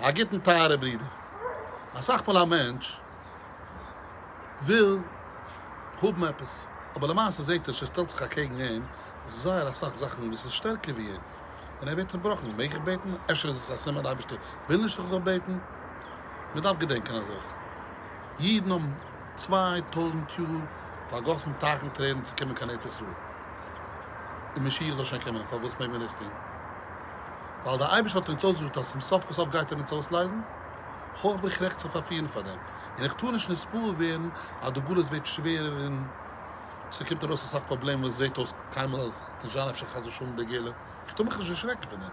א גוטן טייערע ברודער. אסאך מאל א מענטש וויל האבן עפעס אבער למעשה זעהט ער ש עס שטעלט זיך אקעגן אים זייער אסאך זאכן וואס איז שטערקער ווי אים און ער ווערט צובראכן, מעג איך בעטן? אפשר איז עס א סימן די אייבערשטער וויל נישט איך זאל בעטן? מען דארף געדענקען אזוי אידן האבן צוויי טויזנט יאר פארגאסן טייכן טרערן צו קומען קיין ארץ ישראל און משיח זאל שוין קומען פארוואס מעג מען דאס טון? ווייל דער אייבערשטער האט אונז אויסגעזאגט אז צום סוף כל סוף גייט ער אונז אויסלייזן, הויך בין איך רעכט צו פארפירן פאר דעם, און איך טאר נישט נספּאר ווערן אז די גלות ווערט שווערער און ס'קומט ארויס אסאך פראבלעמען וואס זעט אויס קיינמאל אז עס וועט נישט זיין אפשר חס ושלום די גאולה, איך טאר מיך נישט דערשרעקן פון דעם,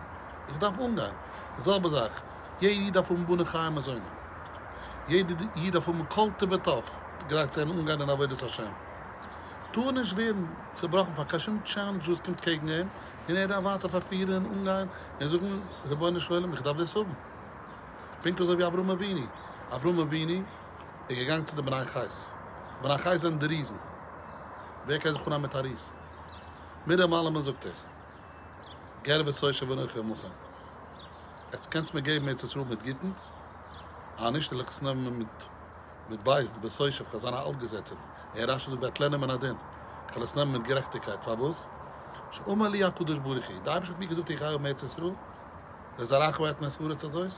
איך דארף אנגיין, די זעלבע זאך, יעדע איד דארף האבן בנים חיים מזוני, יעדע איד דארף האבן כל טוב וטוב גרייט צו זיין אנגיין אין עבודת השם, טאר נישט ווערן צובראכן פאר קיין שום טשעלענדזש וואס קומט קעגן אים, און ער דארף ווייטער פארפירן און אנגיין און זאגן רבונו של עולם איך דארף דאס האבן. פונקט אזוי ווי אברהם אבינו. אברהם אבינו איז געגאנגען צו די בני חית. בני חית זענען די ריזן. ווער קען זיך אנהייבן מיט א ריז? מי דער מלאמען זאגט ער. גר ושושב אנכי עמכם. עטס קענטס מיר געבן ארץ ישראל מיט גוטנס? אנישט עלעך עס נעמען מיט. מיט בית דין בית יוסף כ'האב זיינע אלטגעזעצער און רשי זאגט וועט לערנען מן הדין כ'וועל עס נעמען מיט גערעכטיגקייט פארוואס? שאמר לי הקדוש ברוך הוא די אייבערשטער האט מיר געזאגט איך גיי האבן ארץ ישראל לזרעך ואת מסורת הזאת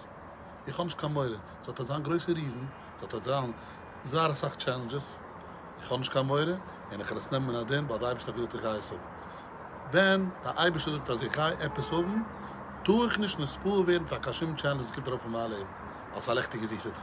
איך האב נישט קיין מורא ס'וועט אט זיין גרויסע ריזן ס'וועט אט זיין זייער אסאך טשעלענדזשעס איך האב נישט קיין מורא און איך וועל עס נעמען מן הדין ווייל די אייבערשטער האט געזאגט איך גיי עס האבן ווען די אייבערשטער זאגט אז איך גיי עפעס האבן טאר איך נישט נספור ווערן פאר קיין שום טשעלענדזש וואס קומט ארויף אין מיין לעבן אלס א לעכטיגע זיסע טאג.